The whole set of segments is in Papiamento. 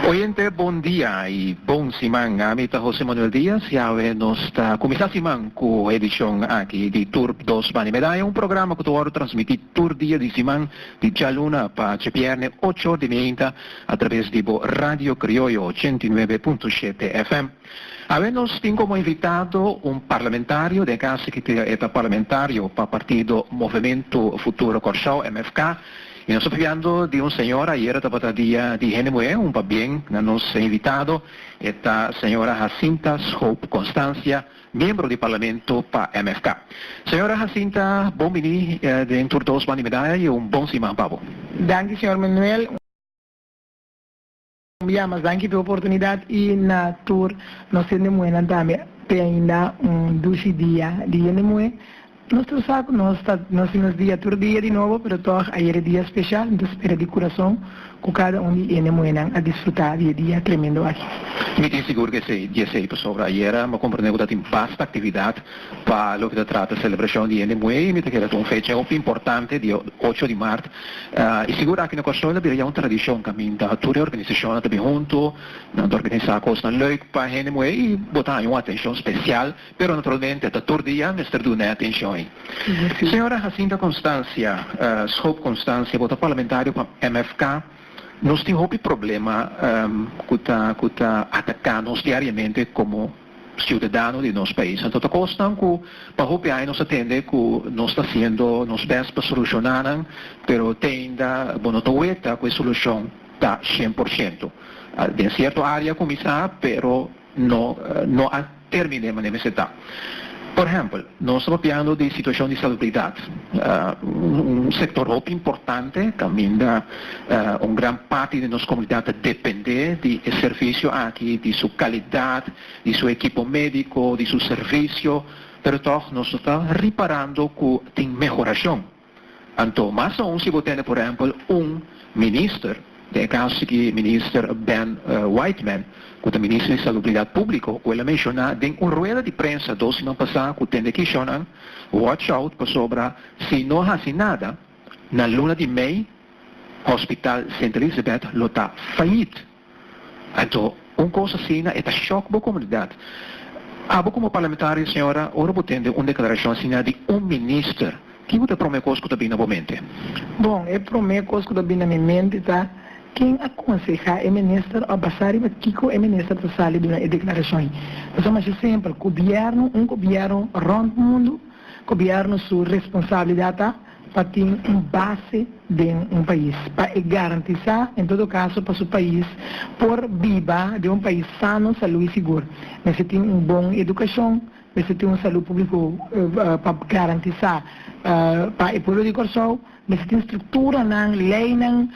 Oyente bon dia y bon siman, ami ta Jose Manuel Diaz y awe nos ta cuminsa siman cu edicion aki di tur dos bani medaya, un programa cu ta worde transmiti tur dia di siman di djaluna pa djebierne ocho or di mieinta atraves di bo Radio Criollo ochenta y nuebe punto shete FM. Awe nos tin komo invitado un parlamentario den kasi ki e ta parlamentario pa partido Movemento Futuro Kòrsou, MFK, i nos ta papiando di un señora, ayera tabata Dia di Hende Muhé, un pabien na nos invitado e ta señora Jacinta Schoop Constancia, miembro di Parlamento pa MFK. Señora Jacinta, bon bini den tur dos man di Medaya i un bon siman pa bo. Danki señor Manuel. Ya mas danki p'e oportunidad y na tur nos hende muhenan tambe p'e ainda un dushi dia di hende muhe. Nos tur sa cu nos ta haci nos dia tur dia di nobo pero tog ayer e dia special. Mi ta spera di curason cu cada un di hende muhenan a disfruta di e dia tremendo aki. Mi tin sigur cu esey di esey pasobra ayer bo comprende cu tatin basta actividad. Pa loke ta trata selebrashon di hende muhé mi ta kere ku un fecha hopi importante dia ocho di mart i sigur aki na Kòrsou a bira ya un tradishon kaminda tur e organisashonnan ta bin huntu nan ta organisá kosnan lèuk pa hende muhé i bo ta haña un atenshon spesial pero naturalmente ta tur dia mester duna e atenshon ei. Señora Jacinta Constancia Schoop Constancia bo ta parlamentario pa MFK nos tin hopi problema ku ta ku ta ataká nos diariamente komo. Ciudadano di nos pais. Anto ta cos nan cu pa hopi aña nos a tende cu nos ta haciendo nos best pa soluciona nan pero te ainda bo no ta weta cu e solucion ta cien por ciento. Den cierto area a cuminsa pero no a termine manera mester ta. Por ehempel. Nos ta papiando di situacion di salubridad, un sector hopi importante, caminda un gran parti di nos comunidad ta depende di e servicio aki, di su calidad, di su equipo medico, di su servicio, pero tog nos no ta riparando cu tin mehoracion. Anto, mas aun si bo tene por ehempel un minister, den e caso si ki minister Ben Whiteman, cu ta minister di Salubridad Publico, cu el a menciona den un rueda di prensa dos siman pasa cu tende Kishonan watch out pasobra si no haci nada na luna di mei Hospital Sint Elisabeth lo ta fayit. Anto, un kos asina e ta shòk bo komunidat. Abo komo parlamentario, señora, ora bo tende un deklarashon asina di un minister, ki bo ta e promé kos ku ta bini na bo mente? Bon, e promé kos ku ta bini na mi mente ta, Ken a konsehá e minister òf basá riba kiko e minister ta sali duna e deklarashon ei? Ta suma shi simpel, gobièrnu, un gobièrnu rònt mundu, gobièrnu su responsabilidat ta. pa tin un base den un pais, pa e garantisá en todo kaso pa su pais por biba den un pais sano, salú i sigur. Mester tin un bon edukashon, mester tin un salú públiko pa garantisá pa e pueblo di Kòrsou, mester tin strukturanan, leinan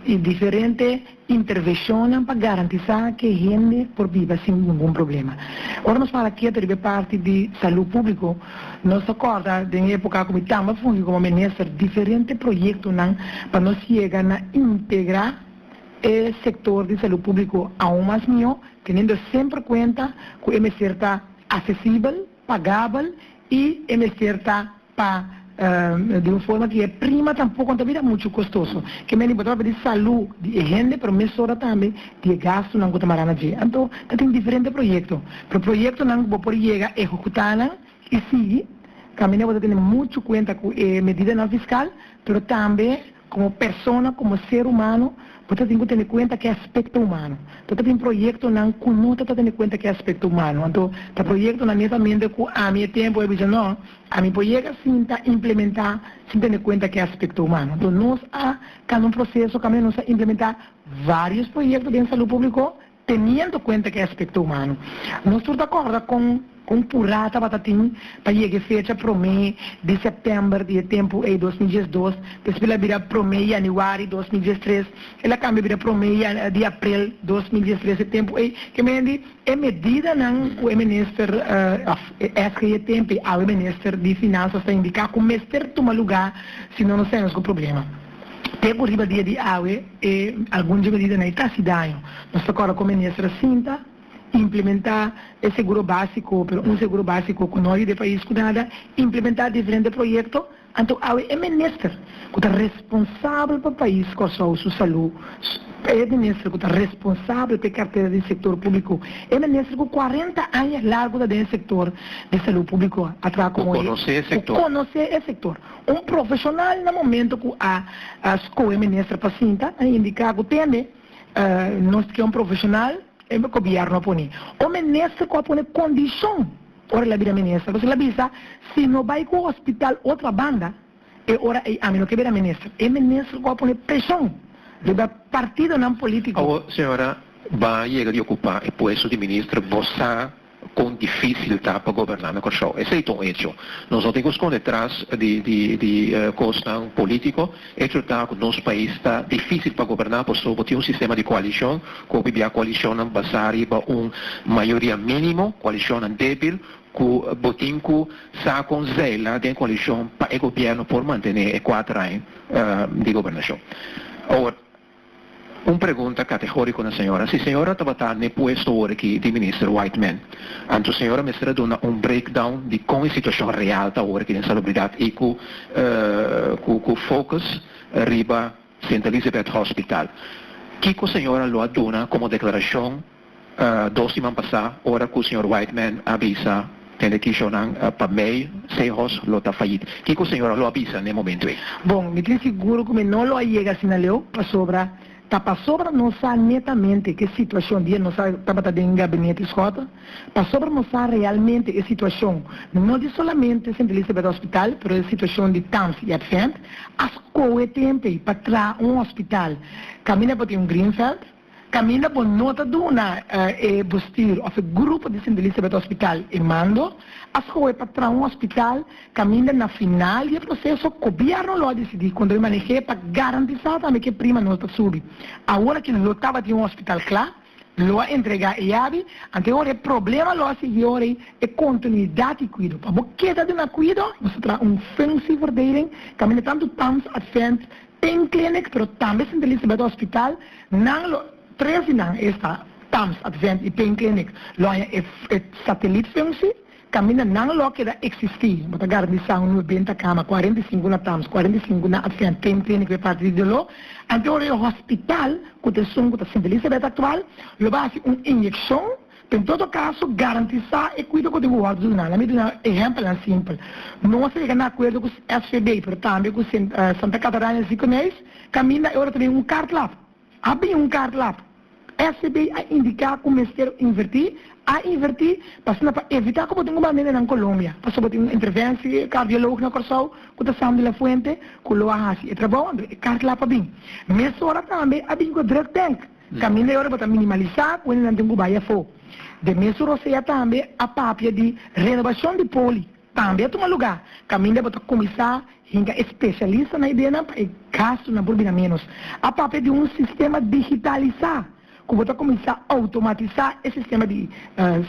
i diferente. intervencionnan pa garantisa ke hende por biba sin ningun problema. Ora nos fala kiet riba e parti di salu publico, nos ta corda den e epoca cu mi tambe a fungi como minister diferente proyectonan pa nos yega na integra e sector di salu publico aun mas mihó teniendo semper cuenta cu e mester ta accesibel, pagabel y e mester ta pa di un forma ki e prima tampoco ta bira mucho costoso. Ke meni bo ta papia di salu di e hende pero mesora tambe di e gastunan cu ta marana dje. Anto ta tin diferente proyecto pero proyectonan cu bo por yega ehocutanan y sigui tambe ne bo ta tene mucho cuenta cu e medidanan fiscal pero tambe. Komo persona, komo ser humano, bo ta tin ku tene kuenta ke aspekto humano. Ta tabin proyektonan ku no ta ta tene kuenta ke aspekto humano. Anto, ta proyektonan netamente ku ami e tempu a bisa, no, ami por yega sinta implementá sin tene kuenta ke aspekto humano. Anto, nos a kanda un proseso kaminda nos a implementá vários proyekto den salú públiko. Teniendo cuenta ki aspecto humano, nos tur ta corda con un pura tabata tin pa yega e fecha prome di september di e tempo ey dos mil diesdos, despues la bira prome januari dos mil diestres, el a cambia bira prome di aprel dos mil diestres e tempo ey, ke men di e medidanan cu e minister of esque di e tempo ey awe minister di finanzas ta indica cu mester tuma lugar si no nos ta hende nos cu problema. Te ku riba dia di awe e algun dje medidanan ta hasi daño. Nos ta kòrda kon meniester a sinta, implementá e seguro básiko, pero un seguro básiko ku no yuda e pais ku nada, implementá diferente proyekto, anto awe e meniester ku ta responsabel pa pais Kòrsou su salú, e meniester ku ta responsabel pa e kartera di sektor públiko, e meniester ku kuarenta aña largu ta den e sektor di salú públiko a traha ku konosé e sektor. Un profeshonal na momento ku a skohe minister pa sinta a indiká ku tende nos ta ke un profeshonal e gobièrnu a pone un minister ku a pone kondishon ora el a bira minister pasobra el a bisa si no bai ku hospital otro banda e ora ei ami no ke bira minister e minister ku a pone preshon riba partidonan politiko. Awo señora Baan yega di okupá e puesto di minister bo sa. Con dificil ta pa goberna na Kòrsou. Esey ta un hecho. Nos no tin cu sconde tras di di di cosnan politico. Hecho ta cu nos pais ta dificil pa goberna paso bo tin un sistema di coalicion cu hopi bia coalicionnan basa riba un mayoria minimo, coalicionnan debil cu bo tin cu sa con zeila den coalicion pa e gobierno por mantene e cuater aña di gobernacion. Un pregunta kategoriko na señora. Si señora tabata n'e puesto awor-aki di Minister Whiteman, anto señora mester a duna un breakdown di kon e situashon real ta awor-aki den salubridat i ku ku focus riba Sint Elisabeth Hospital. Kiko señora lo a duna komo deklarashon? Dos siman pasá ora ku señor Wightman a bisa hende Kishonan pa mei se hos lo ta fayit. Kiko señora lo a bisa n'e momentu ei? Bon, mi tin sigur ku mi no lo a yega asina leu, pasobra ta pasobra nos sa netamente ke situashon di e nos a tabata den gabinete Scott, pasobra nos sa realmente e situashon no di solamente Sint Elisabeth Hospital pero e situashon di Townsy Advent a skohe tempe pa traha un hospital kaminda pa tin un Greenveld. Kaminda bo no ta duna e bustir òf e grupo di sintilista beta hospital e mando, a skohe pa traha un hospital kaminda na final di e proseso gobièrnu lo a disidí kon ta bin maneh'é pa garantisá tambe ku e prima no ta subi. Awor ku lo tabatin un hospital kla, lo a entregá e yabi, anteora e problema lo a sigui ora ei, e kontinuidat di kuido. Pa bo keda duna kuido, nos ta traha un funsieverdeling kaminda tantu Pams Advent Pain Clinic pero tambe Sint Elisabeth Hospital nan lo tres di nan esta tams Advent y Pain Clinic lo haña e satelit funci caminda nan lo keda existi bo ta garantisa un nuebenta cama cuarenta y cinco na tams cuarenta y cinco na Advent Pain Clinic lo e parti di dolo ante ora e hospital cu ta esun cu ta Sint Elisabeth actual lo ba haci un inyeccion Pa en todo kaso garantisá e kuido ku den bo wòrdu duna. Laami duna ehèmpelnan simpel. Nos a yega na akuerdo ku SVB, pero tambe ku Santa Catarina del Ziekenhuis, kaminda e ora ta bini un kartlap. A bini un kartlap. SVB a indiká ku mester invertí, a invertí, asina pa evitá ku bo tin un bambé na nan Colombia, pasobra bo tin un interventie kardiolog na Kòrsou ku ta Sam de la Fuente ku lo a hasi e trabou, anto e kartlap a bini. Mesora tambe a bini ku e drugbank. Tambe ora bo ta minimalisá ku hende nan tin ku bai afó. Den mes su rosea tambe a papia di renobashon di poli tambe a tuma lugá, kaminda bo ta kuminsá hinka e spesialista na ideanan pa e gastunan por bira ménos. A papia di un sistema digitalisá ku bo ta kuminsá outomatisá e sistema di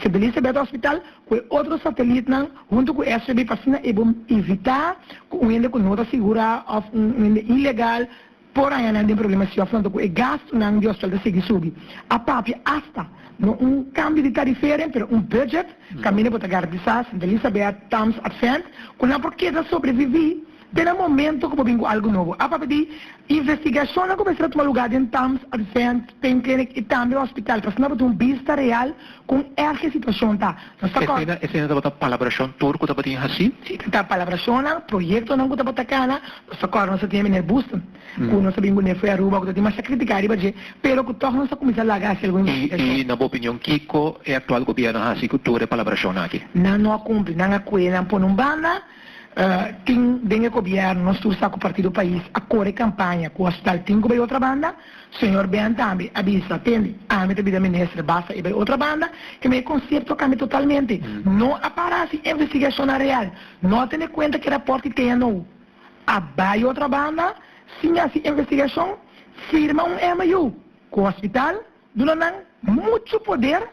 Sint Elisabeth Hospital ku e otro satelitnan huntu ku SVB pa asina e bo evitá ku un hende ku no ta sigurá òf un hende ilegal, Por haña nan den problema si afronta cu e gastunan di hospital ta sigui subi. A papia hasta, no un cambio di tarifering, pero un budget, caminda por ta garantisa, Sint Elisabeth, Thames, Advent, cu nan por keda sobrevivi te na momento cu bo bin cu algo nobo. A papia di investigacionnan cu mester a tuma lugar den Thames, Advent, Pain Clinic y tambe hospital, pa asina bo tin un bista real Kon erg e situashon ta? Nos ta kòrda. Esina, esina tabata palabrashon tur ku tabatin hasí. Sí, ta ta palabrashonnan, proyektonan ku tabata kana. Nos ta kòrda nos a tin e Miner Busten, ku nos a bin ku n'e fo'i Aruba, ku ta tin masha kritiká riba dje, pero ku tòg nos a kuminsá laga hasi algun investigashon. I, i na bo opinion, kiko e aktual gobièrnu a hasi ku tur e palabrashonnan akí? Nan no a kumpli. Nan a kue nan pone un banda. Tin den e gobièrnu, nos tur sa ku Partido Pais a kore kampaña ku Hospital tin ku bai otra banda. Señor Ben tambe a bisa, Tende, ami ta bida mester basa e bai otro banda, y mi e concepto cambia totalmente. No a para si investigacionnan real, no a tene cuenta ki raport ki teña nou. A bai otro banda, siña si investigacion, firma un MU cu hospital, duna nan mucho poder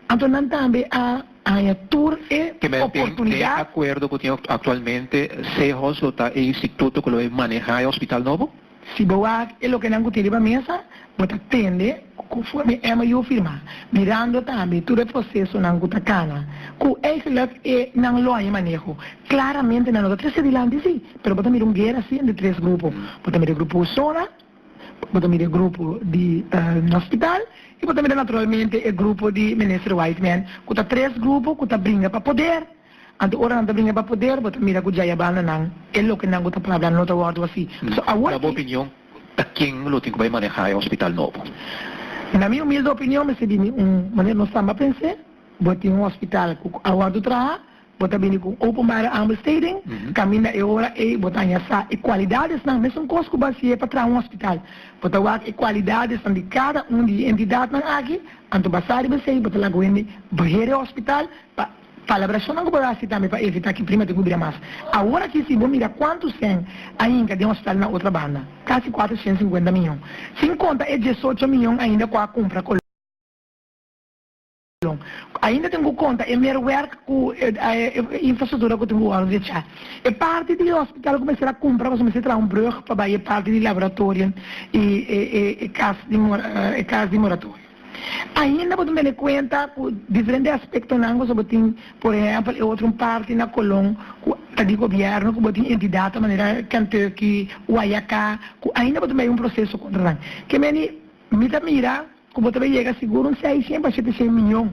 Anto nan tambe a haña tur e oportunidat. Den e akuerdo ku tin aktualmente CEHOS lo ta e instituto ku lo e manehá e hospital nobo? Si bo wak e loke nan ku tin riba mesa, bo ta tende ku konforme MOU firmá, mirando tambe tur e prosesonan ku ta kana, ku eigelijk e nan lo haña maneho, klaramente nan lo ta trese dilanti sí, pero bo ta mira un guera sí entre tres grupo, bo ta mira e grupo Usona, Bo ta mira e grupo di na hospital y bo ta mira naturalmente e grupo di Minister Whiteman cu ta tres grupo cu ta bringa pa poder. Anto ora nan ta bringa pa poder bo ta mira cu djaya bandanan e loke nan cu ta por habla no ta wordo así. So awor aki. Na bo opinion ta ken lo tin cu bay maneha e hospital nobo? Na mi humilde opinion mi sibi mi un manera nos samba pensé bo tin un hospital cu a wordo traha. Bo ta bini ku openbare aanbesteding, kaminda e ora ei bo ta haña sa e kualidadesnan mesunkoos ku basié pa traha un hospital. Bo ta wak e kualidadesnan di kada un di e entidatnan aki, anto basá riba esei bo ta laga wende baher e hospital pa palabrashonnan ku bo ta hasi tambe pa evitá ki prima ta ku bira mas. Awor aki si bo mira kuantu sen a hinka den hospital na otra banda, kasi kuater shent sinkuenta mion, sin konta e diesocho mion ainda ku a kumpra kolon. Sion. Ku ainda tin ku konta e mero wèrk ku e infrastruktura ku tin ku wòrdu echá. E parti di e hospital ku mester a kumpra pasobra mester traha un brùg pa bai e parti di laboratorio i e kas di e kas di moratorio. Ainda bo tin tene kuenta ku diferente aspektonan pasobra bo tin por ehèmpel e otro un parti na Colón ku ta di gobièrnu ku bo tin entidatnan manera Kentucky, YAK ku ainda bo tin bai un proseso kontra nan. Ke meni mi ta mira. Ku bo ta bay yega sigur un seisien pa shete sien miyon.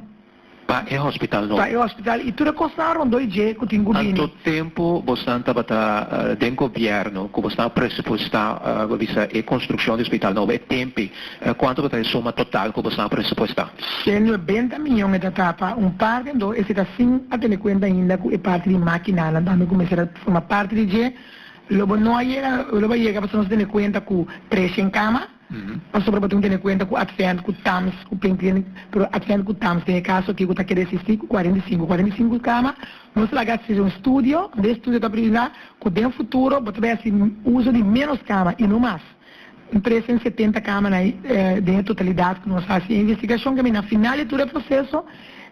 Pa e hospital no. Pa e hospital i tur e kosnan rondó e dje ku tin ku bini. Anto tempu bosnan tabata den gobièrnu ku bosnan a presupuestá bo bisa e konstrukshon di hospital nobo e tempe? Kuantu bo ta e suma total ku bosnan a presupuestá? Shen nuebenta miyon e ta ta pa un parti anto ese ta sin a tene kuenta ainda ku e parti di mákinanan tambe ku mester a forma parti di dje. Lo bo no a yega lo bo a yega pasobra nos a tene kuenta ku preshen kama. Pasobra bo tin ku tene kuenta ku Advent ku Tams ku Plain Clinic, pero Advent ku Tams den e kaso aki ku ta kere asistí ku kuarenta i sinku kuarenta i sinku kama, nos laga así un studio unda e studio ta privila ku den futuro bo ta bay hasi uso di ménos kama i no mas. Bo prese den setenta kama na den e totalidat ku nos hasi e investigashon kami na final di tur e proseso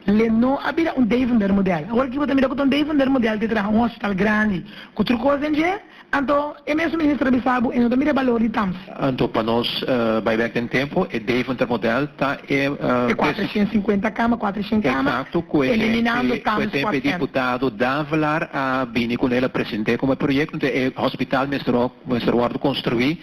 le no a bira un Devender modèl. Awor aki bo ta mira ku ta un Devender modèl te traha un hospital grandi ku tur kos den dje. Anto, e mes minister a bisa bo e no ta mira e balor di tams. Anto, pa nos bai bek den tempo, e Deventer model ta e bes. E kuatrashent sinkuenta kama, kuatrashent kama. Eksakto, ku e temp e diputado Davelar a bini ku el a present'é komo e proyekto. Enton e hospital mester wòrdu konstruí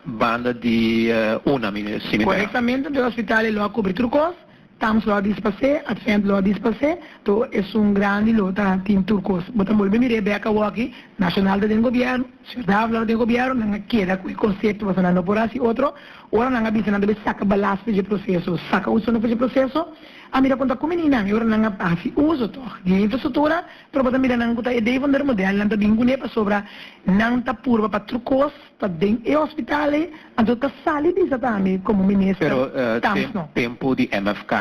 banda di una, mi simb'e. Korektamente, enton e hospital e lo a kubri tur kos. Tams lo a dis pas'é, Advent lo a dis pas'é, to esun grandi lo ta tin tur kos. Bo ta bolbe mir'é bèk awor aki, Nashonal ta den gobièrnu, Señor Dávila lo ta den gobièrnu, nan a keda ku e konsepto pasobra nan no por hasi otro. Ora nan a bisa nan debe saka balas pa dje proseso, saka usonan pa dje proseso, a mira kon ta kume niña nan, e ora nan a hasi uso tòg di e infrastruktura, pero bo ta mira nan ku ta e dei fondar modèl nan ta bin kuné pasobra nan ta purba pa tur kos. Ta den e hospital e, anto ta sali bisa ta mi como minister Camps no. Tempo di MFK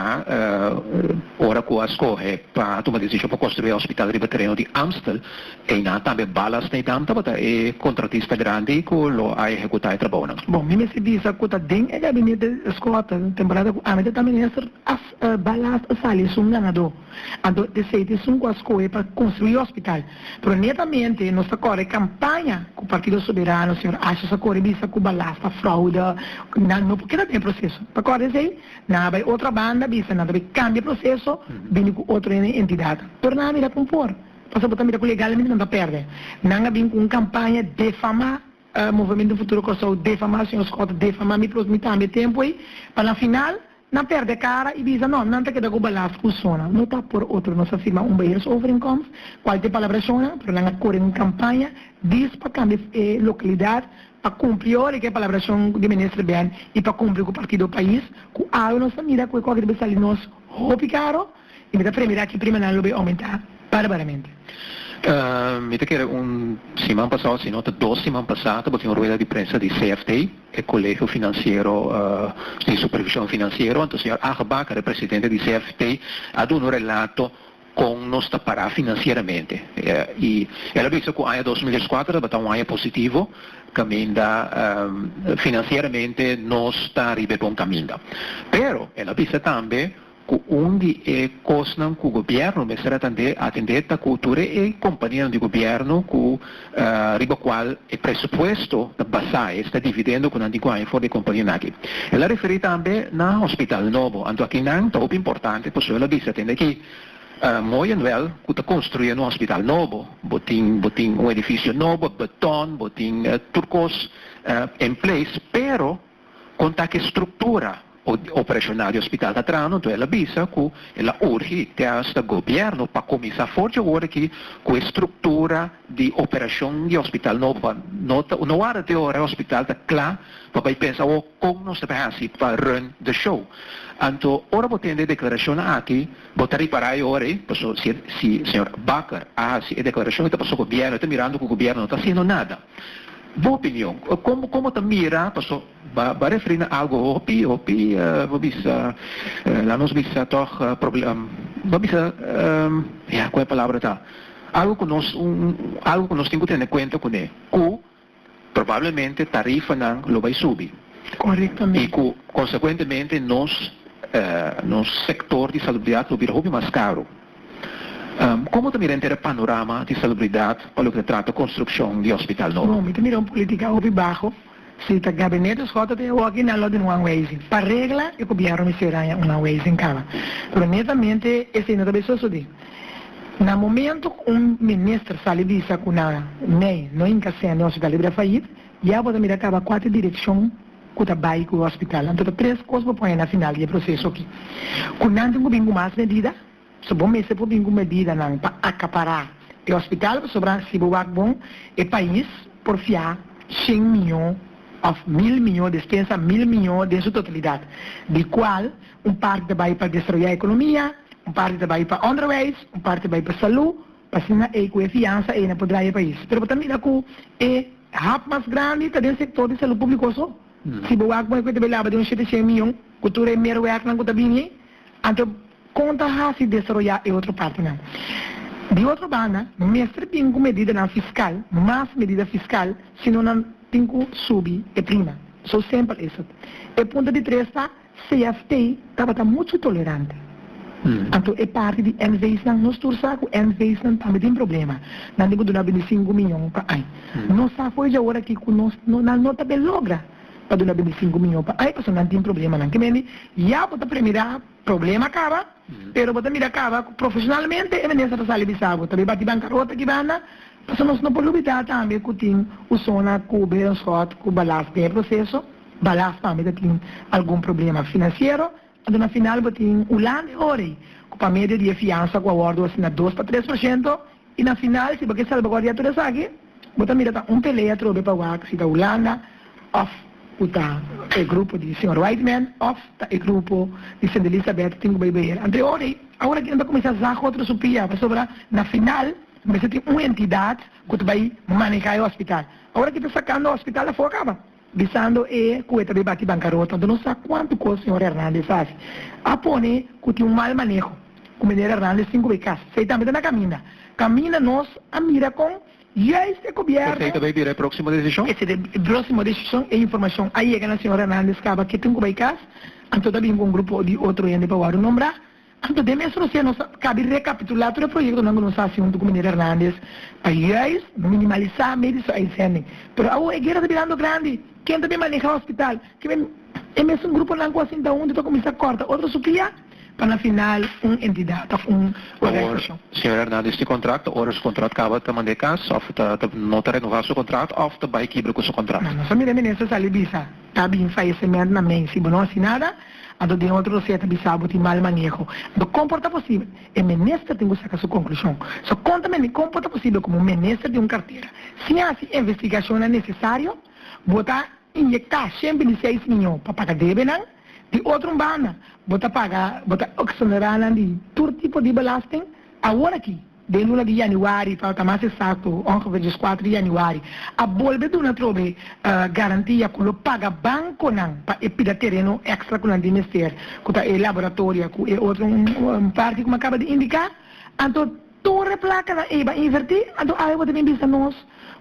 ora cu a scoge pa tuma decision pa construi e hospital riba tereno di Amstel, eynan tambe Bala Sneedam tabata e contratista grandi cu lo a ehecuta e trabounan. Bon, mi mester bisa cu ta den e gabinete Scott, temporada cu ami ta ta minister, Bala a sali esun ganador. Anto esey ta esun cu a scoge pa construi e hospital. Pero netamente nos ta kore kampaña ku Partido Soberano, señor Ashe sa kore bisa ku balas ta fraude, nan no por keda den e proseso. Pa kòrda esei, nan a bai otro banda bisa nan ta bai kambia e proseso, bini ku otro ene entidad. Pero nan a mira kon por, pasobra bo ta mira ku legalmente nan ta pèrdè. Nan a bin ku un kampaña defamá. Movemento Futuro Kòrsou defamá, Señor Scott ta defamá mi plus mi tambe tempu ei pa na final nan pèrdè kara i bisa nò nan ta keda ku balas ku sona. No ta por otro nos a firma un beheersovereenkomst kual tin palabra sona pero nan a kore un kampaña dis pa kambia e lokalidat pa kumpli yo hoor ik e palabrashon di Minister Ben i pa kumpli ku partido Pais ku awe nos ta mira ku e kòke ta bin sali nos hopi karo. Y mi ta prende dat ki primanan lo bay aumenta barbaramente. Mi ta kere un siman pasa of sino ta dos siman pasa tabata un rueda di prensa di CFT, e Colegio Financiero di Supervision Financiero, anto señor Aag Bakker, e presidente di CFT, a duna un relato con nos ta para financieramente. Y el a bisa cu aña dos mil dieskuater tabata un aña positivo caminda financieramente nos ta riba e bon caminda. Pero el a bisa tambe. Ku un di e kosnan ku gobièrnu mester atendé atendé ta ku tur e kompanianan di gobièrnu ku riba kual e presupuesto ta basá, esta e dividendo ku nan tin ku haña for di e kompanien aki. El a referí tambe na hospital nobo, anto aki nan ta hopi importante pasobra el a bisa tende aki, Mooi en wel ku ta konstruí un hospital nobo, bo tin bo tin un edifisio nobo, beton, bo tin tur kos en place, pero, Kon ta ki struktura operashonal di ospital ta trahando, nto el a bisa ku el a urgi te asta gobièrnu pa kuminsá for dje ora aki ku e struktura di operashon di ospital nobo pa no ta no warda te ora e ospital ta kla pa bai pensa awor kon nos ta bin hasi pa run de show. Anto ora bo tende e deklarashonnan aki bo ta ripará e ora ei paso si si señor Bakker a hasi e deklarashon ei ta paso gobièrnu e ta mirando ku gobièrnu no ta hasiendo nada. Bo opinion, como como ta mira paso ba ba referi na algo hopi hopi bo bisa laat nos bisa toch bo bisa ya cu e palabra ta algo cu nos un algo cu nos tin cu tene cuenta cu ne cu probablemente tarifanan lo bay subi y cu consecuentemente nos nos sector di salubridad lo bira hopi mas caro. Komo ta mira henter e panorama di salubridat pa loke ta trata konstrukshon di hospital nobo? No, mi ta mira un politika hopi baho. Si ta Gabinete Schot ta tin e woki na lo di un anweizing. Pa regla e gobièrnu mi sera aña un anweizing kaba. Pero netamente esei no ta bay sosodí. Na momento ku un minister sali bisa ku na Mei no hinka sèn den Hospital Ibrafait, Ya abo ta mira caba cuate direccion cu ta bay cu e hospital. Anto ta tres cos bo pone na final di e proceso aki. Cu nan tin cu bin cu mas medida, so bo mester por bin cu medidanan pa acapara e hospital pasobra si bo wak bon e pais por fia cien miyo of mil miyo despensa mil miyo den su totalidad di cual un parti ta bay pa desaroya economia, un parti ta bay pa onderwijs, un parti ta bay pa salud. Asina ei, ku e fiansa ei nan por drai e pais. Pero bo ta mira ku e hap mas grandi ta den sektor di salú públiko so. Si bo wak muhe ku e ta bay laba den un shete shen mion ku tur e merwèknan ku ta bini ei, anto kon ta hasi desaroyá e otro partinan? Di otro banda, mester bin ku medidanan fiskal, mas medida fiskal, sino nan tin ku subi e prima. So sempel esat. E punto di tres ta. CFT tabata muchu tolerante. Anto e parti di NVSnan no stuur sa cu NVSnan tambe tin problema. Nan tin cu duna bindi sinku miyon pa ai. No sa fo'i djaora aki cu nos nan no ta be logra pa duna bindi sinku miyon pa ai pasobra nan tin problemanan. Ki mendi ya bo ta premira problema caba pero bo ta mira caba cu profesionalmente e mender sa ta sali bisa bo. Tabe bati bancarota aki banda. Pasobra nos no por lubidá tambe ku tin usona ku bira un sòt ku balas den e proseso. Balas pampe ta tin algun problema finansiero, anto na final bo tin un lan di ora ei ku pa medio di e fiansa ku a wòrdu asina dos pa tres por shento i na final si bo ke salbagòrdiá tur esaki bo ta mira ta un pelea atrobe pa wak si ta Hulanda òf ku ta e grupo di señor Wightman òf ta e grupo di Sendelisa Bèt tin ku bai beheer anto e ora ei. Aworakí nan ta kuminsá zag otro supia pasobra na final. Bo mester tin un entidad cu ta bay maneha e hospital. Ahora ki ta sacando hospital afo caba bisando e cu e ta bay bati bancarota. Anto no sa cuanto cos señor Hernandez a haci. A pone cu tin un mal maneho cu Meneer Hernandez tin cu bay cas. Esey tambe ta na caminda. Caminda nos a mira con juist e gobierno. Esey ta bay bira e proximo decision? Esey ta bay bira e proximo decision. E informacion a yega na señor Hernandez caba. Ke tin cu bay cas? Anto ta bin cu un grupo di otro hende pa worde nombra. Anto den mes rosé nos a kabi rekapitulá tur e proyektonan ku nos a hasi huntu ku Miner Hernandez pa yùis minimalisá medi su uitzending. Pero awo e guera ta birando grandi. Ken ta bin manehá hospital? Kimen e mesun gruponan ku a sinta huntu ta kuminsá kòrta otro su kia pa na final un entidat òf un organizashon? Awor señor Hernandez tin kontrakt, ta ora su kontrakt kaba ta manda e kas òf ta no ta renová su kontrakt òf ta bai kibra ku su kontrakt? Nos a mira e minister sali bisa ta bin fayesementnan mei si bo no hasi nada. Anto den otro reseta bisa bo tin mal maneho. Anto kon por ta posibel? E minister tin cu saca su conclusion. So conta me mi con por ta posibel como un minister di un cartera sin haci investigacionnan necesario? Bo ta inyecta shen bini seis miyon pa paga debenan. Di otro un banda bo ta paga bo ta exonera nan di tur tipo di belasting. Awor aki. Den luna di yanüari, pa ta mas esakto, ongefeer dies kuater di yanüari, a bolbe duna trobe garantia ku lo paga bankonan pa e pida tereno èkstra ku nan tin mester, ku ta e laboratoria ku e otro un parti ku mi a kaba di indiká. Anto tur e plakanan eiba invertí, anto awe bo ta bin bisa nos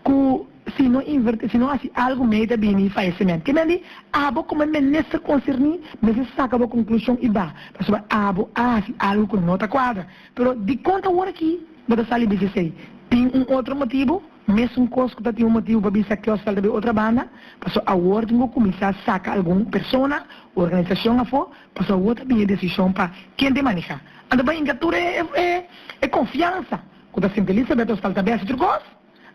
ku si no invertí, si no hasi algu mei ta bini fayesementu. Ke men di, abo komo e minister konserní mester saka bo konklushon i ba, pasobra abo a hasi algu ku no ta kuadra. Pero dikon ta ora ki bo ta sali bisa esei? Tin un otro motibu? Mesunkoz ku ta tin un motibu pa bisa kiosk salta bay otra banda, paso awor tin ku kuminsá saka algun persona o organisashon afó, paso awor ta bin e desishon pa ken ta e manehá. Anta pa hinka tur e konfiansa ku ta sinta Elisabet o salta bay hasi otro kos?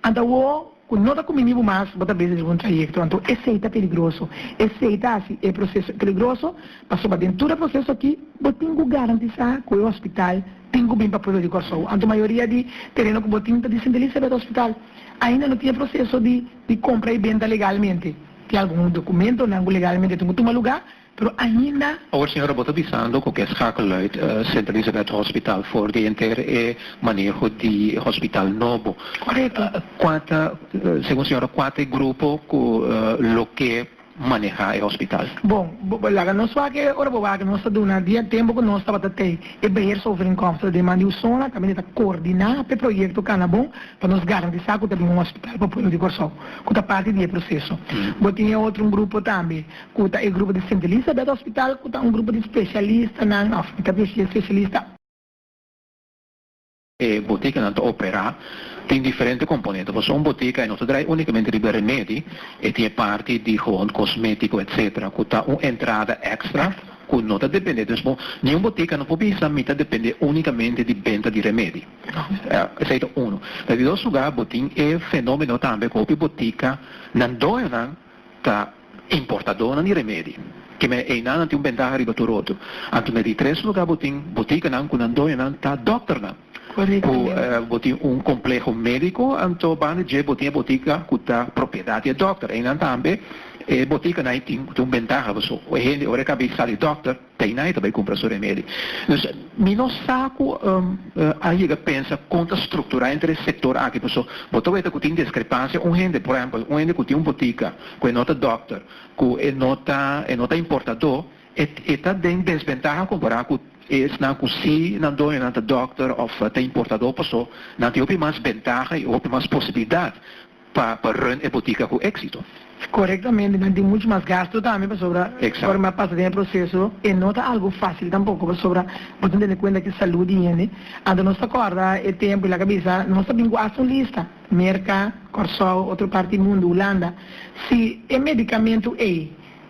Ant awo cu no ta cumini bo mas bo ta bezi riba un trayecto, anto esey ta peligroso. Esey ta haci e proceso peligroso, pasobra den tur e proceso aki bo tin cu garantisa cu e hospital tin cu bin pa pueblo di Corsou. Anto mayoria di tereno cu bo tin ta di Sint Elisabeth Hospital. Ainda no tin e proceso di di compra y benta legalmente. Tin algun documentonan cu legalmente tin cu tuma lugar. Pero ainda awor señora bo ta bisando cu ke schakelluid Sint Elisabeth Hospital for di enter e maneho di e hospital nobo. Correcto. Cua ta, segun señora, cua ta e grupo cu lo ke maneha e hospital? Bon, laga nos wak e ora bo wak nos ta duna di e tempo cu nos tabata tei e beheersovereenkomst ta den man di Usona, tambe ta coordina p'e proyecto cana bon pa nos garantisa cu ta bin un hospital pa pueblo di Corsou cu ta parti di e proceso. Bo tin e otro un grupo tambe ku ta e grupo di Sint Elisabeth Hospital ku ta un grupo di spesialistanan òf mi ta bishi e spesialista. E botikanan ta operá tin diferente komponente pasobra un botika e no ta drai únikamente riba remedi e tin e parti di hond kosmétiko etsetera ku ta un entrada èkstra ku no ta dependé dus bo niun botika no por bisa mi ta dependé únikamente di benta di remedi esei ta unu den di dos lugá bo tin e fenómeno tambe ku hopi botikanan doñonan Ta importadónan di remedi. Ki mei einan nan tin un bentaha riba tur otro. Anto na di tres lugá bo tin botikanan ku nan doñonan ta dòkternan. Ku bo tin un kompleho médiko anto banda dje bo tin e botika ku ta propiedat di e dòkter. Einan tambe e botika nai tin un bentaha pasobra e hende ora e kabes sa di dòkter. Teinai ta bai cumpra su remedi. Dus mi no sa cu a yega pensa con ta structura entre e sector aki paso bo ta weta cu tin discrepancia un hende, por ehempel, un hende cu tin un botica cu e no ta dokter, cu e no ta e no ta importado, e e ta den desventaha compara cu esnan cu si nan doño nan ta dokter of ta importado paso nan tin hopi mas bentaha y hopi mas posibilidad. pa pa run e botica cu exito. Corectamente nan tin mucho mas gasto tambe pasobra ora mi a pasa den e proceso e no ta algo facil tampoco pasobra bo tin tene cuenta cu salud di hende anto nos ta corda e tempo y laga bisa nos a bin cu hasta un lista Merca, Corsou, otro parti mundo, Hulanda si e medicamento ey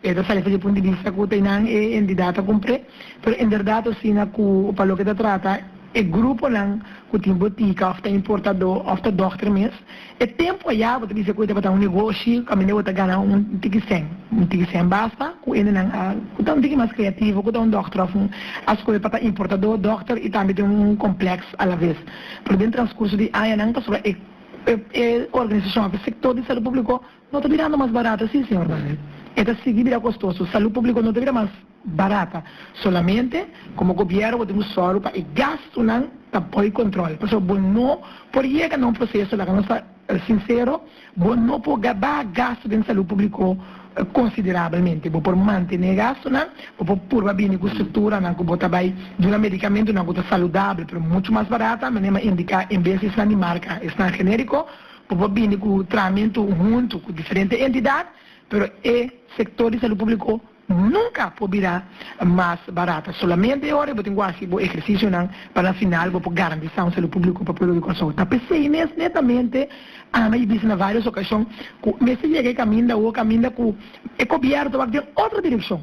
E ta sali fasi pun di bista ku ta einan e entidat ta kumpré, pero en bèrdat asina ku pa loke ta trata e gruponan ku tin botika òf ta importadó òf ta dòkter mes, e tempu a ya bo ta bisa ku e tabata un negoshi kaminda bo ta gana un tiki sèn, un tiki sèn basta ku endenan a ku ta un tiki mas kreativo ku ta un dòkter òf un a skohe pa ta importadó, dòkter i tambe ten un komplèks alaves. Pero den transkurso di añanan pasobra e e organisashon òf e sektor di salu públiko No ta birando mas barato si, señor Barrett. E ta sigui bira costoso. Salud publico no ta bira mas barata. Solamente, como gobiero bo tin cu sorgo pa e gastonan ta bo e control. Pasobra bo no por yega na un proceso, laga nos ta sincero, bo no por gaba gasto den salud publico considerablemente. Bo por mantene e gastonan, bo por purba bini cu structuranan cu bo ta bay duna medicamentonan cu ta saludable pero mucho mas barata, manera mi a indica, en bes di esnan di marca, esnan generico, Bo por bini ku traamentu huntu ku diferente entidat, pero e sektor di salu públiko nunka por bira mas barata. Solamente e ora bo tin ku hasi bo ehersisionan pa na final bo por garantisá un salu públiko pa pueblo di Kòrsou. Ta p'esei mes netamente Ana i bisa na vários okashon ku mester yega e kaminda awor, kaminda ku e gobièrnu ta wak den otro direkshon.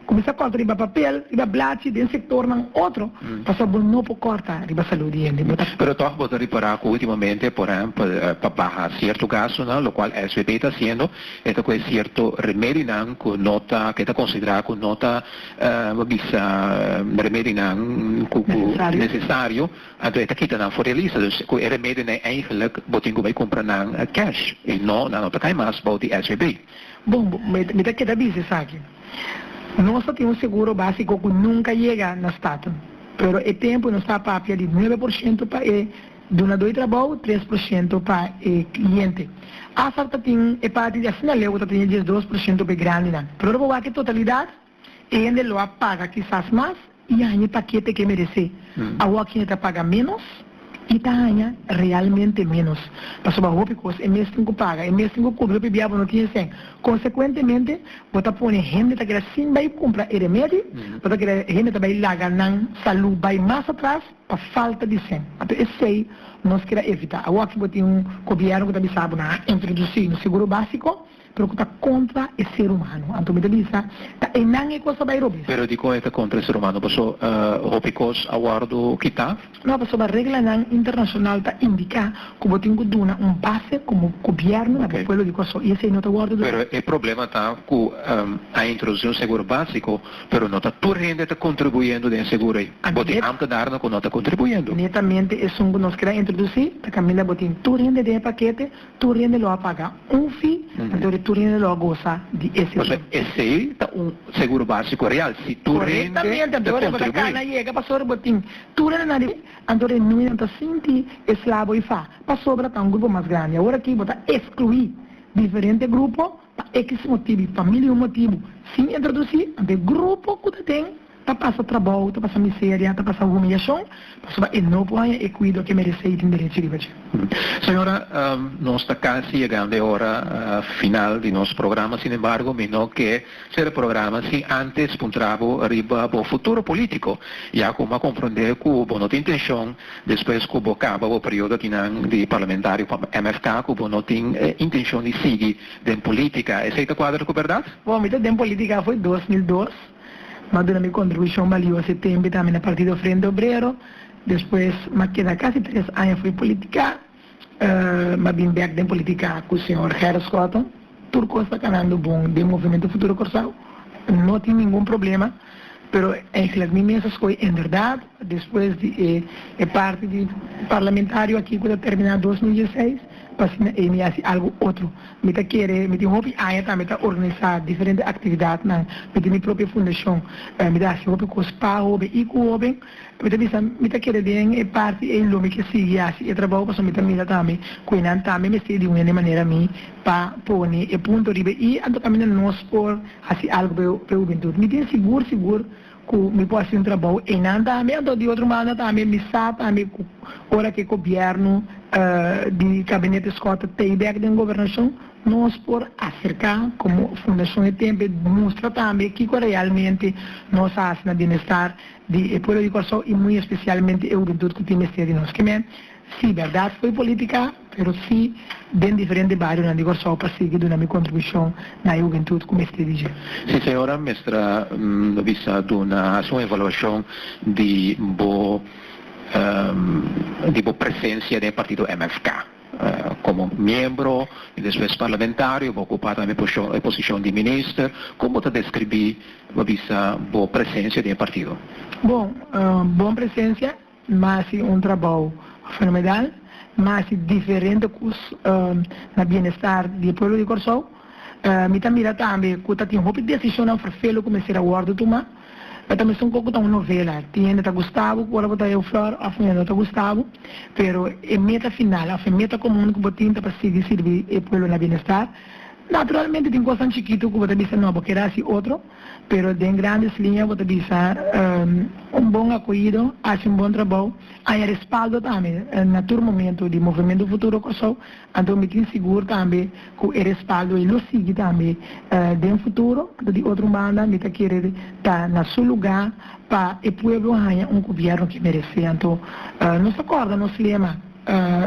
Kuminsá kòrta riba papel, riba blachi, den sektornan otro, pasobra bo no por kòrta riba salú di hende. Bo ta. Pero tòg bo ta repará ku últimamente, por ehèmpel, pa baha sierto gastunan, lokual SVB ta hasiendo, e ta kohe sierto remedinan ku no ta, ku e ta konsiderá ku no ta, bo bisa, remedinan ku ku nesesario, anto e ta kita nan for di e lista. Dus ku e remedionan, èigenlik bo tin ku bai kumpra nan kèsh i no, nan no ta kai mas bou di SVB. Bon, mi ta keda bisa esaki. Nos ta tin un seguro básiko ku nunka yega na Staten, pero e tempu nos ta papia di nuebe por shento pa e dunadó di trabou, tres por shento pa e kliente. Asar ta tin e parti di asinaleu ku ta tene diesdos por shento pa e grandinan. Pero ora bo wak e totalidat. E hende lo a paga kisas mas i a haña pakete ke meresé. Awor ken e ta paga ménos i ta haña realmente ménos, pasobra hopi kos e mes tin ku paga, e mes tin ku kubri hopi bia bo no tin esei. Konsekuentemente, bo ta pone hende ta keda sin bai kumpra e remedi, bo ta keda hende ta bai laga nan salú bai mas atras pa falta di esei. Anto esei nos keda evitá. Awor aki bo tin un gobièrnu ku ta bisa bo nan a introdusí un seguro básiko, Pero ku ta kontra e ser humano. Anto mi ta bisa, ta enan e kos pa bai robes. Pero dikon e ta kontra e ser humano? Paso hopi kos a wòrdu kitá. No, pasobra reglanan internashonal ta indiká ku bo tin ku duna un base komo gobièrnu na bo pueblo di Kòrsou, i esei no ta wòrdu duna. Pero e problema ta ku a introdusí un seguro básiko, pero no ta tur hende ta kontribuyendo den e seguro ei. Bo tin amper darnan ku no ta kontribuyendo. Netamente esun ku nos keda introdusí ta kaminda bo tin tur hende den e pakete. Tur hende lo a paga un fi, anto tur hende lo a gosa di e seguro. Pasobra esei ta un seguro básiko real, si tur hende ta kontribui. Korektamente, anto ora bo ta kana yega pasobra bo tin tur hende nan riba di bo, anto e nuinan ta sinti eslabo i fa, pasobra ta un grupo mas grandi. Awor aki bo ta eskluí diferente grupo. Pa X motibu i pa mil i un motibu, sin introdusí, anto e grupo ku ta den ta pasa trabou, ta pasa miseria, ta pasa humiliashon, pasobra e no por haña e kuido ku e meresé i tin derechi riba dje. Señora, nos ta kasi yegando e ora final di nos programa, sin embargo mi no ke sera e programa sin ántes puntra bo riba bo futuro polítiko, ya ku mi a komprondé ku bo no ta intenshon Despues ku bo kaba bo periodo di nan di parlamentario pa MFK ku bo no tin e intenshon di sigui den polítika, esei ta kuadra ku bèrdat? Bon, mi ta den polítika afó e dos mil dos. Mi a duna mi kontribushon balioso e tempu tambe na Partido Frente Obrero. Despues mi a keda kasi tres aña afó e polítika. m'a bin bek den politica cu señor Gerrit Schotten, tur cos ta canando bon den Movimiento Futuro Corsao, no tin ningun problema, pero eigenlic mi mes a scoy enverdad, despues di e e parti di parlamentario aki cu ta termina dos mil dieseis, p'asina ey mi haci algo otro, mi ta kere, mi tin hopi aña tambe ta organisa diferente actividadnan, mi tin mi propio fundacion, mi ta haci hopi cos pa hoben y cu hoben. Mi ta bisa, Mi ta kere den e parti ei lo mi ke sigui hasi e trabou pasobra mi ta mira tambe ku eynan tambe mester di un hende manera mi pa pone e punto riba e i anto kaminda nos por hasi algu pa e hubentut. Mi tin sigur sigur ku mi por hasi un trabou eynan tambe anto di otro manda tambe mi sa tambe ku ora ku e gobièrnu di Gabinete Scott ta tei bèk den gobernashon nos por aserká komo Fundashon E Tempe mustra tambe kiko realmente nos hasi na bienestar di e pueblo di Kòrsou i muy especialmente e hubentut ku tin mester di nos kem'é, si berdad fo'i politika pero si den diferente barionan di Kòrsou pa sigui duna mi kontribushon na e hubentut ku mester di dje. Si señora mester a bisa duna hasi un evaluashon di bo di bo presensia den e partido MFK. Komo miembro i despues parlamentario bo okupá tambe e posishon di minister. Kon bo ta deskribí bo bisa bo presensia den e partido? Bon, bon presensia mas si un trabou fenomedal, mas si diferente kos na bienestar di e pueblo di Kòrsou. Mi ta mira tambe ku ta tin hopi desishonnan ferfelu ku mester a wòrdu tumá. E ta mesun cu oco ta un novela, tin hende ta gusta bo cu ora bo ta Euflor of hende no ta gusta bo, pero e meta final of e meta comun cu bo tin ta pa sigui sirbi e pueblo na bienestar. Naturalmente tin cosnan chikitu cu bo ta bisa no, bo keda haci otro, pero den grandes linea bo ta bisa un bon acoyido, haci un bon trabou, aña respaldo tambe na tur momento di Movemento Futuro Corsou. Anto mi tin sigur tambe ku e respaldo ei lo sigui tambe den futuro. Anto di otro banda mi ta kere ta na su lugá pa e pueblo haña un gobièrnu ke meresé. Anto nos ta kòrda nos lema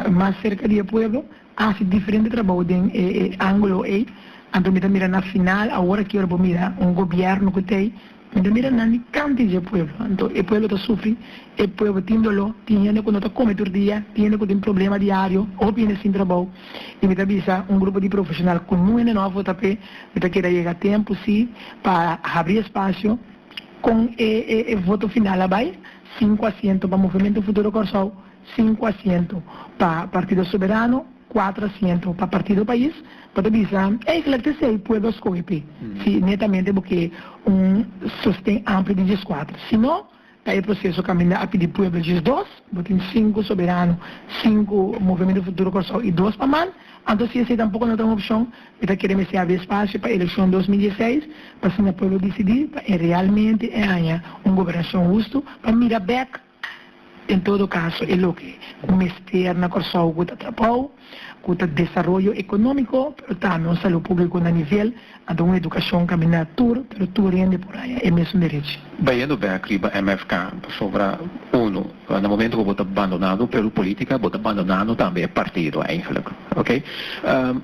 Mas serka di e pueblo hasi diferente trabou den e ángulo ei. Anto mi ta mira na final awor aki ora bo mira un gobièrnu ku ta ei. Mi ta mira nan di kanti dje pueblo, anto e pueblo ta sufri, e pueblo tin doló, tin hende ku no ta kome tur dia, tin hende ku tin problema diario, hopi hende sin trabou, i mi ta bisa un grupo di profeshonal ku nun hende nòf ta p'e, mi ta keda yega a tempu sí pa habri espasio kon e voto final a bai, sinku asiento pa Movimiento Futuro Kòrsou. sinku asiento pa Partido Soberano, kuater asiento pa Partido Pais, bo ta bisa, ey kilac ta esey pueblo a scoge pe si netamente bo ke un sosten amplio di dieskuater. Si no, ta e proceso caminda a pidi pueblo diesdos, bo tin sinku Soberano, sinku Movimiento Futuro Corcao y dos pa man, anto si esey tampoco no ta un opcion, mi ta kere mester habri espacio pa eleccion dos mil diesseis, pa asina pueblo dicidi pa e realmente e haña un gobernacion hustu, pa mira bek. En todo caso e loke cu mester na Corsou cu ta trapao cu ta desaroyo economico pero tambe un salud publico na nivel a do un educacion camina tur pero tur hende por haya e mesun derechi. Bayendo bek riba MFK pasobra uno na momento cu bo ta bandonando Peru politica bo ta bandonando tambe e partido eigenlijk oke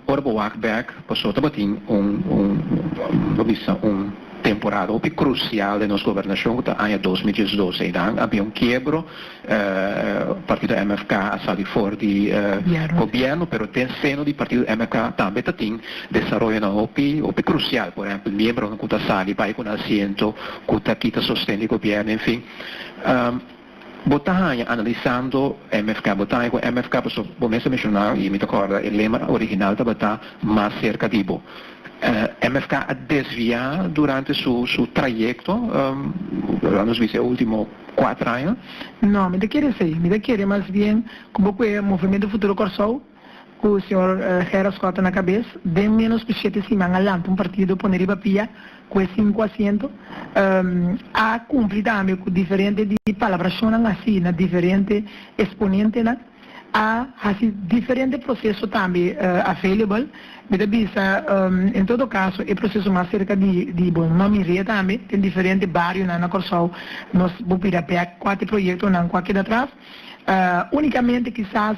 ora bo wak bek Paso tabatin un, un, lo bisa un temporada hopi crucial den nos gobernacion cu ta aña dos mil diesdos einan. A habia un kiebro, partido MFK a sali for di gobierno, pero den seno di partido MFK tambe tatin desaroyonan hopi, hopi crucial, por ehempel miembronan cu ta sali bai cu nan asiento, cu ta kita sosten di gobierno, en fin. Bo ta haña analisando MFK, bo ta haña ku MFK pasobra bo mes a mishona i mi ta kòrda e lema original tabata Mas serka di bo. MFK a desviá durante su su trayekto, la nos bisa e último kuater aña. No, mi ta kere esei. Mi ta kere mas bien ku bo kue Movimiento Futuro Kòrsou. Ku señor Gerald Schotten na kabes, den ménos ku shete siman a lanta un partido pone riba pia ku e sinku asiento. A kumpli tambe ku diferente di palabrashonnan hasi na diferente esponentenan. A hasi diferente proseso tambe available. Mi ta bisa, en todo kaso, e proseso mas serka di bo no mir'é tambe den diferente barionan na Kòrsou. Nos bo bira bèk kua ta e proyektonan ku a keda atras. Únikamente kisas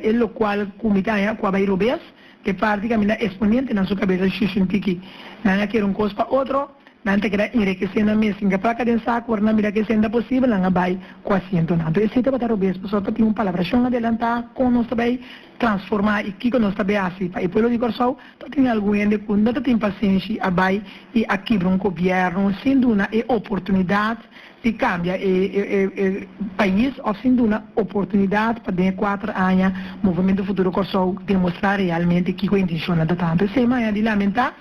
e lokual ku mi ta haña kua bai robes, e parti ku a mina esponiente nan su kabesa shushuntikí. Nan a kere un kos pa otro, nan ta keda enrikesé nan mes. Sin kapaka den sa ku ora nan mira ke senda posibel nan a bai ku asientonan. Anto esei tabata robes pasobra ta tin un palabrashon adelantá kon nos ta bai transformá i kiko nos ta bai hasi. Pa e pueblo di Kòrsou ta tin algun hende ku no ta tin pasenshi a bai i a kibra un gobièrnu sin duna e oportunidat di cambia e pais of sin duna oportunidad pa den e cuater aña Movimiento Futuro Corsou demostra realmente kico e intenciona ta tanto esey maya di lamenta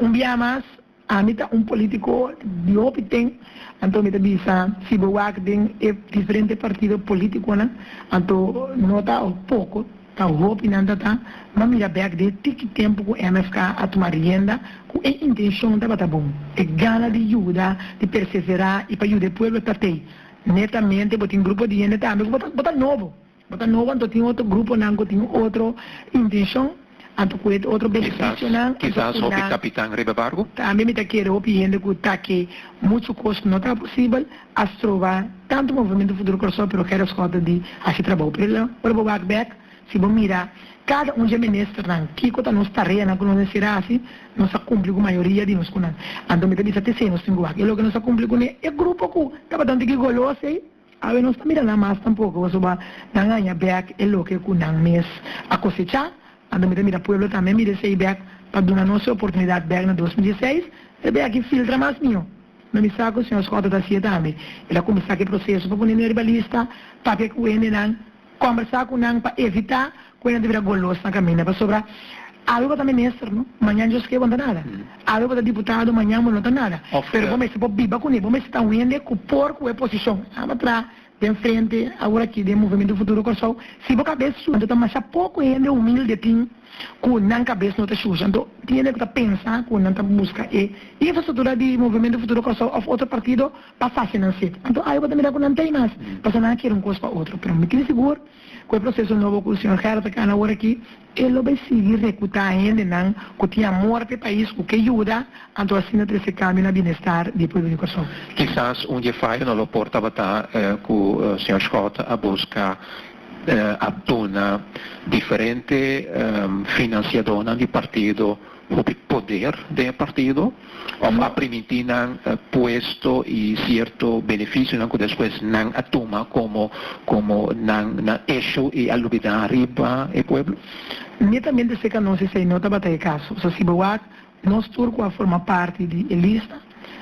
un bia mas ami ta un politico di hopi ten anto mi ta bisa si bo wak den e diferente partido politiconan anto no ta poco Ta hopi nan ta ta ma mira bek di e tiki tempu ku MFK a tuma rienda ku e intenshon tabata bon, e gana di yuda, di perseverá i pa yuda e pueblo ta t'ei. Netamente bo tin grupo di hende tambe ku bo ta bo ta nobo. Bo ta nobo anto tin otro gruponan ku tin otro intenshon, anto ku e otro benefisionan, anto ku nan. Kisas, kisas hopi kapitan riba barku. Tambe mi ta kere hopi hende ku ta ke muchu kos no ta posibel. A stroba tantu Movimiento Futuro Corsoe pero Gerrit Schout ta di haci trabao por el ora bo wak bek si bo mira cada un dje ministernan kico ta nos tareanan cu nos mester haci nos a cumpli cu mayoria di nos cu nan anto mi ta bisa te se nos tin cu wak y loke nos a cumpli cu ne e grupo cu tabata un tiki goloso ey awe nos ta mira nan mas tampoco pasobra nan a haña bek e loke cu nan mes a cosecha Ando mi ta mira pueblo tambe mi desei bek pa duna nos e oportunidad bek na dos mil dieseis e be aki filtra mas mihó ma mi sa ku señor Scott ta haci'e tambe el a kuminsá ku e proceso pa pone mi riba lista papia ku hendenan kombersá ku nan pa evitá ku e nan ta bira golos na kaminda pasobra awe bo ta minister no mañan Dios ke bo no ta nada awe bo ta diputado mañan bo no ta nada pero bo mester por biba kuné bo mester ta un hende ku por ku e posishon nan abatrá. Den frente awor aki den Movimiento Futuro Kòrsou, si bo kabes shushi, anto ta masha poko hende humilde tin ku nan kabes no ta shushi. Anto tiene ku ta pensa ku nan ta buska e infrastruktura di Movimiento Futuro Kòrsou òf otro partido pa fasi nan sit. Anto awe bo ta mira ku nan t'ei mas, pasobra nan a kere un kos pa otro. Pero mi tin sigur ku e proseso nobo ku señor Gerard ta kana awor aki E lo bay sigui rekruta hendenan cu tin amor pa e pais cu ke yuda, anto asina trece cambio na bienestar di pueblo di Corsou. Kisas un dje fayo no lo por tabata cu señor Schouten a busca a duna diferente financiadornan di partido, hopi poder den e partido of a primiti nan puesto y cierto beneficionan cu despues nan a tuma como como nan nan echo y a lubida riba e pueblo. Netamente seca nos esey no tabata e caso. So si bo wak, nos tur cu a forma parti di e lista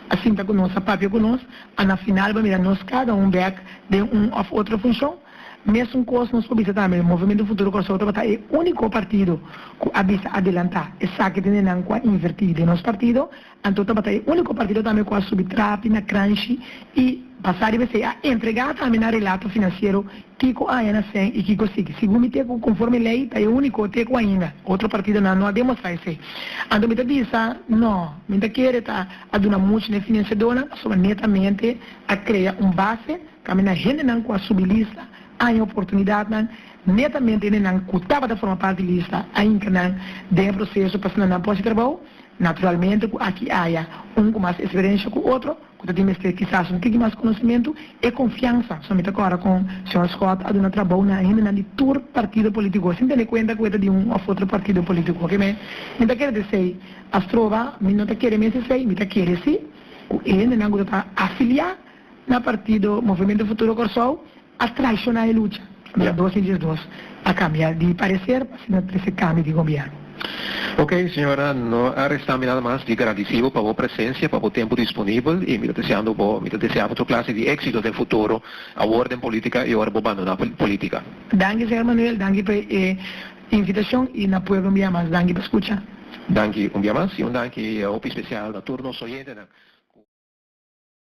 a sinta cu nos, a papia cu nos, a na final bo a mira nos cada un bek den un of otro funcion. Mesun kos nos por bisa tambe, Movimiento Futuro Kòrsou tabata e úniko partido ku a bisa adelantá. Esaki tin den nan ku a invertí den nos partido, anto tabata e úniko partido tambe ku a subi trapi na kranshi i basá riba esei a entregá tambe nan relato finansiero kiko aña nan sen i kiko sigui. Segun mi te ku konforme lei ta e úniko te ku ainda otro partidonan no a demostrá esei. Anto mi ta bisa no, mi no ta kere ta a duna muchu na e finansiadónan pasobra netamente a krea un base. Tambe na hendenan ku a subi lista a haña oportunidatnan, netamente hendenan ku tabata forma parti di lista a hinka nan den e proseso pa sna nan por hasi trabou. Naturalmente ku aki haya un ku mas eksperensha ku otro, ku ta tin mester kisas un tiki mas konosimentu i konfiansa. So mi ta kòrda kon señor Scott a duna trabou na hendenan di tur partido politiko, sin tene kuenta ku e ta di un òf otro partido politiko. Ke mi mi ta kere ta esei, Astroba, mi no ta kere mester esei, mi ta kere si ku e hendenan ku ta ta afiliá, na partido Movimiento Futuro Kòrsou a traishoná e lucha, na la dos i diesdos a kambia di pareser pa asina trese kambi di gobièrnu. Ok, señora, no a restá mi nada mas di gradisí bo pa bo presensia, pa bo tempu disponibel i mi ta deseando bo, mi ta desea bo tur klase di éksito den futuro, awor den polítika i ora bo bandoná polítika. Danki señor Manuel, danki pa e invitashon i na pueblo un bia mas danki pa skucha. Danki un bia mas i un danki hopi spesial na tur nos oyentenan ku.